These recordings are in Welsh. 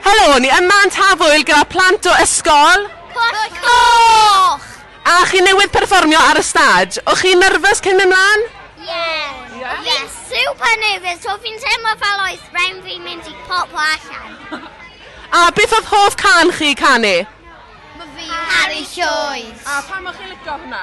Helo, ni yma yn Tafwyl gyda plant o ysgol... Pwll Coch! A chi newydd perfformio ar y stage. O'ch chi'n nyrfys cyn mynd mlaen? Fi'n super nervous, so fi'n teimlo fel oes rhaid fi mynd i poplo allan. A beth oedd hoff can chi canu? Caru Llwyd. A pam o'ch chi'n licio hwnna?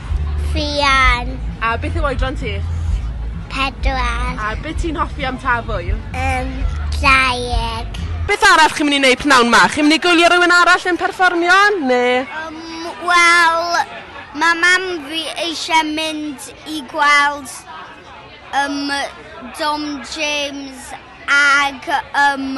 Fuan. A beth yw oedran ti? Pedwar. A be' ti'n hoffi am Taf Ŵyl? Yym, Draig. Beth arall chi'n myn' i neud pnawn 'ma? Chi'n myn' i gwylio rywun arall yn perfformio ne'? Yym, wel, ma' mam fi eisiau mynd i gweld yym Dom James ag yym